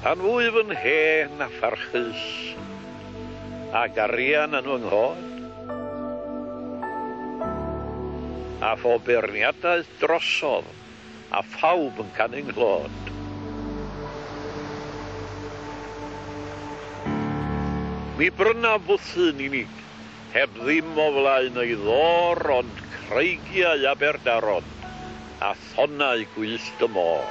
Pan fwyf yn hen a pharchus, a garian yn fy nghod, a phob beirniadaeth drosodd, a phawb yn canu'n nghlod. Mi brynaf fwthyn unig, heb ddim o flaen ei ddôr ond creigiau Aberdaron a thonnau gwyllt y môr.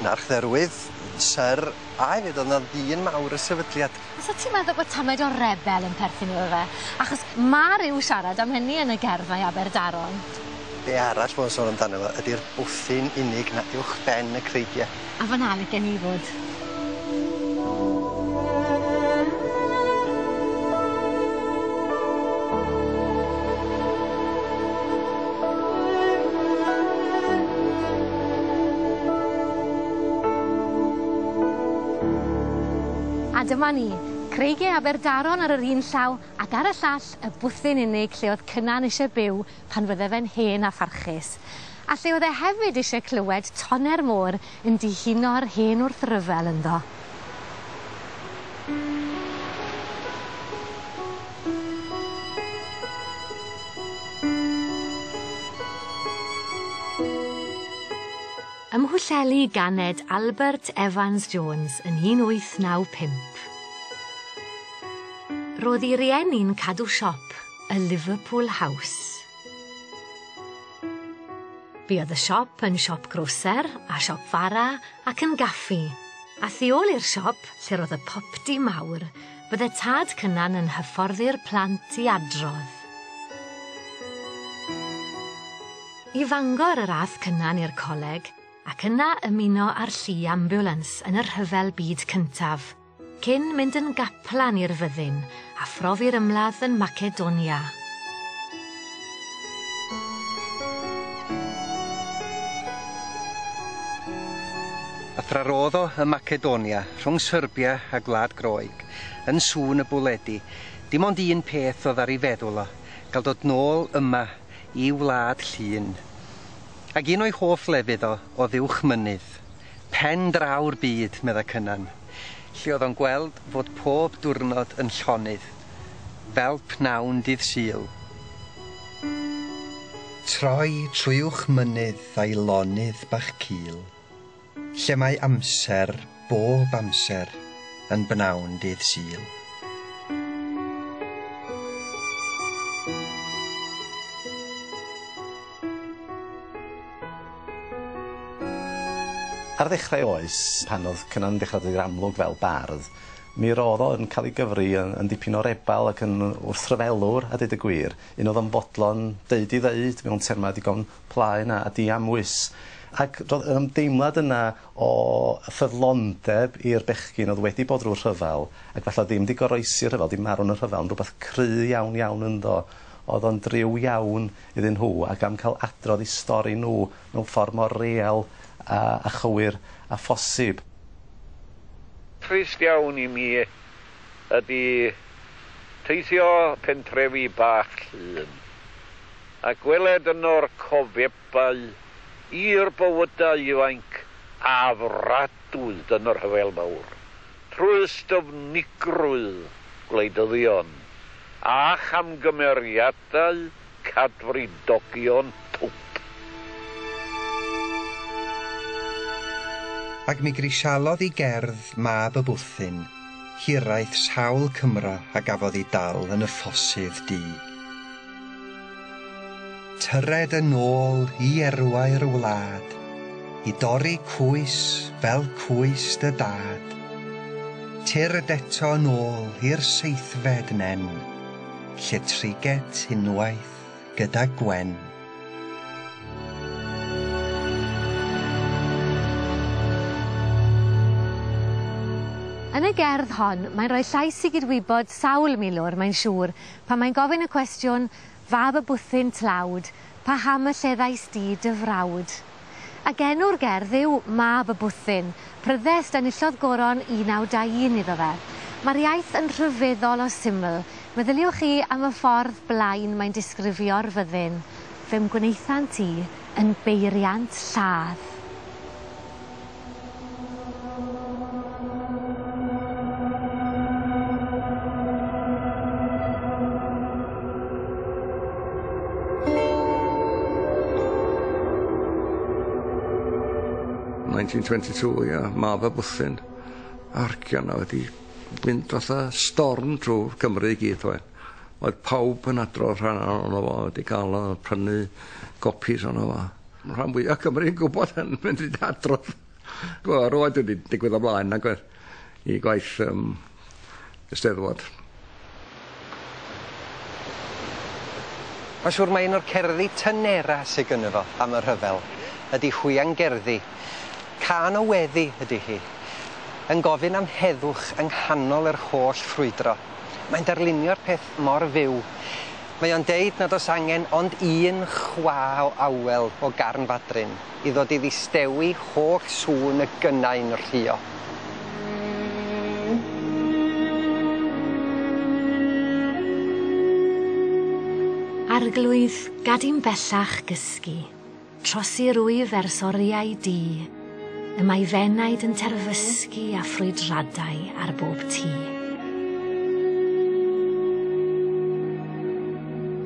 Yn archdderwydd, Syr, a hefyd o'dd 'na ddyn mawr y sefydliad. Fysa ti'n meddwl bod tamaid o rebel yn perthyn iddo fe, achos ma' ryw siarad am hynny yn y gerddau Aberdaron. Be' arall fo'n sôn amdano fo ydi'r bwthyn unig 'na uwchben y creigie. A fan'na licen i fod. A dyma ni, Creigie Aberdaron ar yr un llaw ac ar y llall y bwthyn unig lle oedd Cynan eisiau byw pan fydde fe'n hen a pharchus. A lle oedd e hefyd eisiau clywed tonne'r môr Yn dihuno'r hen wrthryfel ynddo. Ym Mhwllheli ganed Albert Evans Jones yn 1895. Ro'dd 'i rieni'n cadw siop, y Liverpool House. Buodd y siop yn siop groser a siop fara ac yn gaffi, a thu ôl i'r siop, lle ro'dd y popty mawr, bydde tad Cynan yn hyfforddi'r plant i adrodd. I Fangor yr a'th Cynan i'r coleg, ac yna ymuno â'r llu ambiwlans yn y Rhyfel Byd Cyntaf. Cyn mynd yn gaplan i'r fyddin, a phrofi'r ymladd yn Macedonia. A thrarodd o ym Macedonia, rhwng Serbia a Gwlad Groeg, yn sŵn y bwledi, dim ond un peth oedd ar ei feddwl o, gael dod nôl yma, i wlad Llŷn. Ac un o'i hoff lefydd o oedd uwchmynydd. Pen draw'r byd, meddai Cynan, lle oedd o'n gweld fod pob diwrnod yn llonydd fel pnawn dydd Sul. Troi trwy uwch mynydd a'i lonydd bach cul, lle mae amser, bob amser, yn bnawn dydd Sul. Ar ddechrau oes, pan oedd Cynan'n dechrau dod i'r amlwg fel bardd, mi roedd o yn cael ei gyfri yn yn dipyn o rebal ac yn wrthryfelwr, a deud y gwir, un oedd yn fodlon deud i ddeud mewn termau digon plaen a a diamwys. Ac roedd yr ymdeimlad yna o ffyddlondeb i'r bechgyn oedd wedi bod drwy'r rhyfel, ac falle oedd ddim 'di goroesi'r rhyfel, 'di marw yn y rhyfel, ond rhywbeth cry iawn iawn ynddo. Oedd o'n driw iawn iddyn nhw ac am cael adrodd eu stori nhw mewn ffordd mor real a chywir â phosib. Trist iawn i mi ydy teithio pentrefi bach Llŷn a gweled yno'r cofebau i'r bywydau ifainc a fwriadwyd yn y Rhyfel Mawr trwy styfnigrwydd gwleidyddion a chamgymeriadau Dau Cadfridogion Twp. Ac mi grisialodd i gerdd mab y bwthyn, hiraeth sawl cymra a gafodd i dal yn y ffosydd du. Tyred yn ôl i erwau'r wlad, i dorri cwys fel cwys dy dad. Tyrd eto yn ôl i'r seithfed nen. Lle triget unwaith gyda Gwen. Yn y gerdd hon, mae'n rhoi llais i gydwybod sawl milwr, mae'n siŵr, pan mae'n gofyn y cwestiwn, Fab y bwthyn tlawd, paham y lleddais di dy frawd? ac enw'r gerdd yw 'Mab y Bwthyn', pryddest enillodd goron 1921 iddo fe. Mae'r iaith yn rhyfeddol o syml, meddyliwch chi am y ffordd blaen mae'n disgrifio'r fyddin. Fe wnaethant ti yn beiriant lladd. 1922, ia, mab a bwthyn. Argion na wedi mynd fatha storm trwy Cymru i gyd, oedd. Oedd pawb yn adrodd rhan ohono fo wedi cael o prynu gopis ohono fo. Ma' rhan fwya Cymru yn gwbod yn mynd i adrodd. Wel roedd wedi digwydd o blaen nag oedd? I gwaith yym y Steddfod. Mae'n siŵr mai un o'r cerddi tynera sy gynno fo am y rhyfel ydi Hwiangerddi. Cân o weddi ydi hi. Yn gofyn am heddwch yng nghanol yr holl ffrwydro. Mae'n darlunio'r peth mor fyw. Mae o'n deud nad oes angen ond un chwa o awel o garn fadryn i ddod i ddistewi holl sŵn y gynnau'n rhuo. Arglwydd, gad i'm bellach gysgu. Trosir wyf ers oriau du. Y mae f'enaid yn terfysgu a ffrwydradau ar bob tu.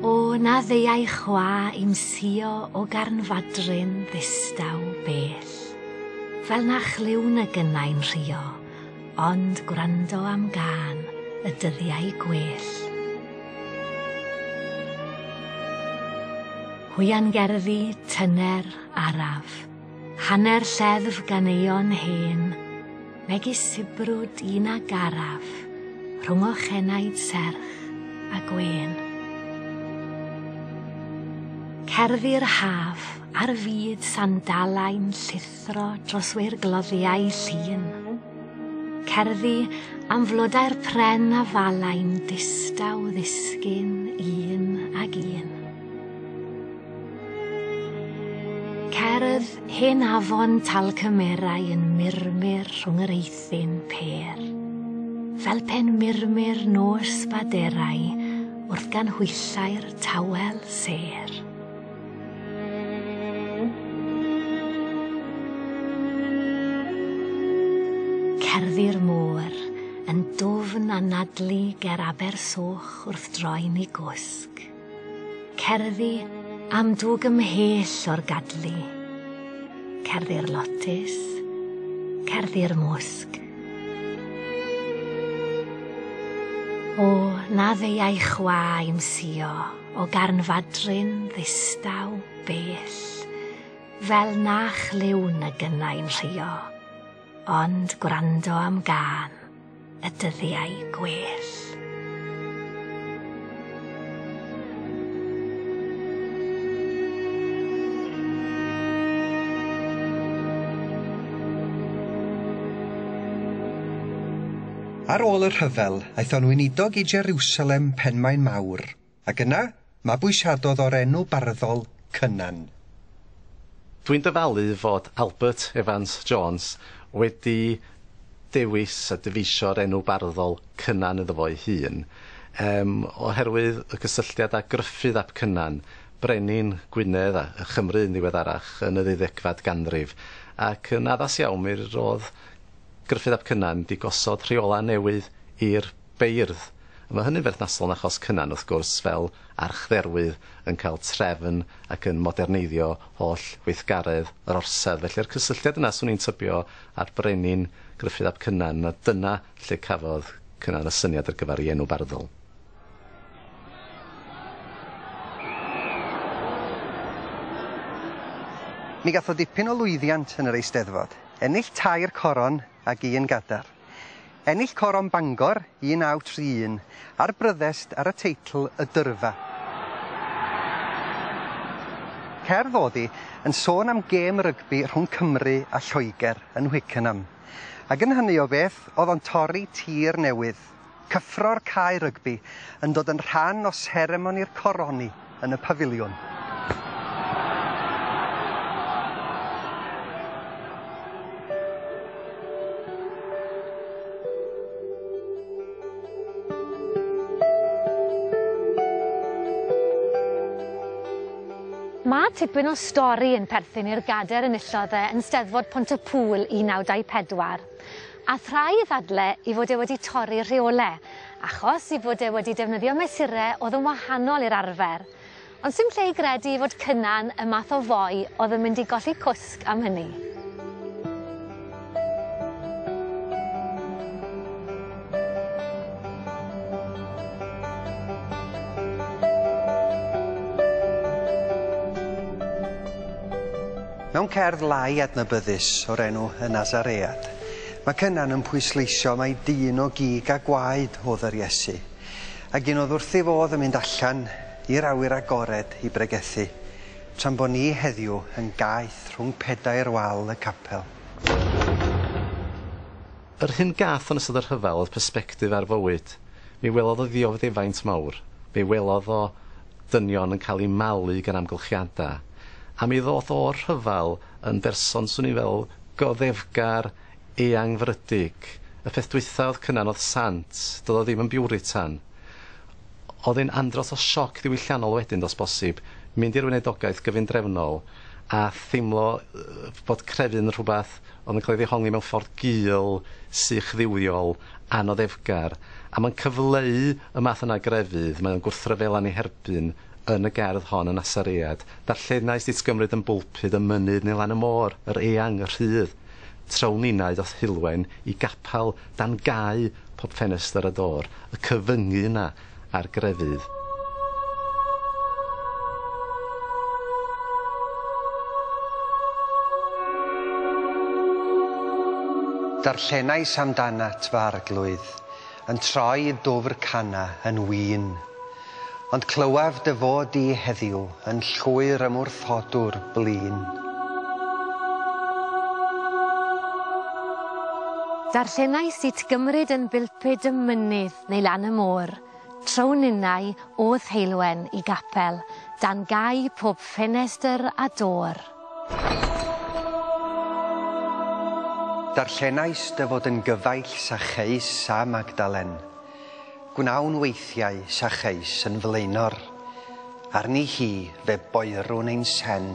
O, na ddeuai chwa i'm sio o garnfadryn ddistaw bell. Fel na chlywn y gynnau'n rhuo, Ond gwrando am gân y dyddiau gwell. Hwiangerddi, Tyner, Araf. Hanner lleddf ganeuon hen, megis sibrwd un a garaf, rhwng ochenaid serch a gwên. Cerddi'r haf, ar fyd sandalau'n llithro. Athro dros wir gloddiau llun. Cerddi am flodau'r pren a falai'n distaw ddisgyn un ag un. Cerdd hen afon tal cymerau yn murmur rhwng yr eithin per. Fel pen murmur nos baderau wrth gan hwyllau'r tawel ser. Cerddi'r môr, yn dwfn anadlu ger aber soch wrth droi'n i gwsg. Cerddi am dwg ymhell o'r gadlu. Cerddi'r lotus, cerddi'r mwsg. O, na ddeuai chwa i'm sio. O garnfadryn ddistaw bell, fel na chlywn y gynnau'n rhio, ond gwrando am gân y dyddiau gwell. Ar ôl y rhyfel, aeth o'n weinidog i Jerusalem, Penmaen Mawr, ac yna, mabwysiadodd o'r enw barddol Cynan. Dwi'n dyfalu fod Albert Evans Jones wedi dewis a dyfeisio'r enw barddol Cynan iddo fo'i hun, yym, oherwydd y gysylltiad â Gruffydd ap Cynan, brenin Gwynedd a Chymru yn ddiweddarach yn y ddeuddegfad ganrif, ac yn addas iawn mi rodd Gruffydd ap Cynan 'di gosod rheolau newydd i'r beirdd. Mae hynny'n berthnasol yn achos Cynan, wrth gwrs, fel archdderwydd yn cael trefn ac yn moderneiddio holl weithgaredd yr orsedd. Felly'r cysylltiad yna, 'swn i'n tybio, â'r brenin Gruffydd ap Cynan, a dyna lle cafodd Cynan y syniad ar gyfer ei enw barddol. Mi gath o dipyn o lwyddiant yn yr Eisteddfod. Ennill tair coron ag un gadar. Ennill Coron Bangor 1931 a'r Bryddest ar y teitl Y Dyrfa. Cerdd oddi yn sôn am gêm rygbi rhwng Cymru a Lloegr yn Hwickenham, ac yn hynny o beth oedd o'n torri tir newydd. Cyffro'r cae rygbi yn dod yn rhan o seremoni'r coroni yn y Pafiliwn. Mae tipyn o stori yn perthyn i'r gadair enillodd e yn Steddfod Pont-y-pŵl 1924. All rhai ddadle i fod e wedi torri rheole, achos i fod e wedi defnyddio mesure oedd yn wahanol i'r arfer. Ond sdim lle i gredu i fod Cynan y math o foi oedd yn mynd i golli cwsg am hynny. Mewn cerdd lai adnabyddus o'r enw Y Nasaread, mae Cynan yn pwysleisio mai dyn o gig a gwaed oedd yr Iesu, ac un oedd wrthi fodd yn mynd allan i'r awyr agored i bregethu, tra'n bo ni heddiw yn gaeth rhwng pedair wal y capel. Yr hyn gath yn ystod y rhyfel oedd persbectif ar fywyd. Mi welodd o ddiofddefaint mawr. Mi welodd o dynion yn cael eu malu gan amgylchiadau. A mi ddoth o'r rhyfel yn berson, 'swn i'n feddwl, goddefgar, eangfrydig. Y peth dwytha oedd Cynan oedd sant, doedd o ddim yn biwritan. Oedd e'n andros o sioc ddiwylliannol wedyn, dos bosib, mynd i'r weinidogaeth gyfundrefnol a theimlo bod crefydd yn rhywbeth, ond yn cael ei ddehongli mewn ffordd gul, sych dduwiol, anoddefgar, a mae'n cyfleu y math yna o grefydd mae o'n gwrthryfela'n ei herbyn yn y gerdd hon y Nasaread. Darllenais di t'gymryd yn bwlpud y mynydd neu lan y môr, yr eang, y rhydd, traw ninau doth Heulwen i gapel dan gau pob ffenestr a dôr, y cyfyngu yna, a'r grefydd. Darllenais amdanat, fy Arglwydd, yn troi i Dwfr Cana yn win. Ond clywaf dy fod di heddiw yn llwyr ymwrthodwr blin. Darllenais it gymryd yn bilpud y mynydd. neu lan y môr, trown innau o Dheulwen i Gapel, dan gau pob ffenestr a dôr. Darllenais dy fod yn gyfaill Sacheus a Magdalen. Gwnawn weithiau Sacheus yn flaenor. Arni hi fe boerwn ein sen.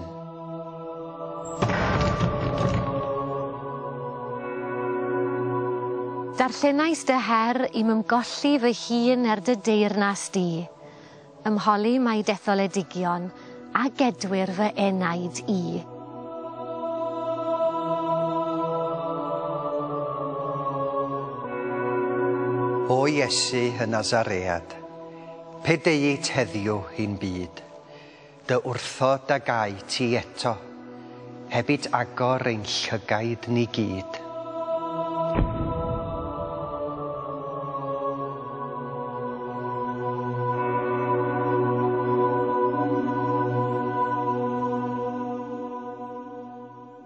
Darllenais dy her i'm ymgolli fy hun er dy deyrnas di. Ymholi mai detholedigion a gedwir fy enaid i. O Iesu y Nazaread, Pe deuit heddiw i'n byd, dy wrtho da gai ti eto, hebit agor ein llygaid ni gyd.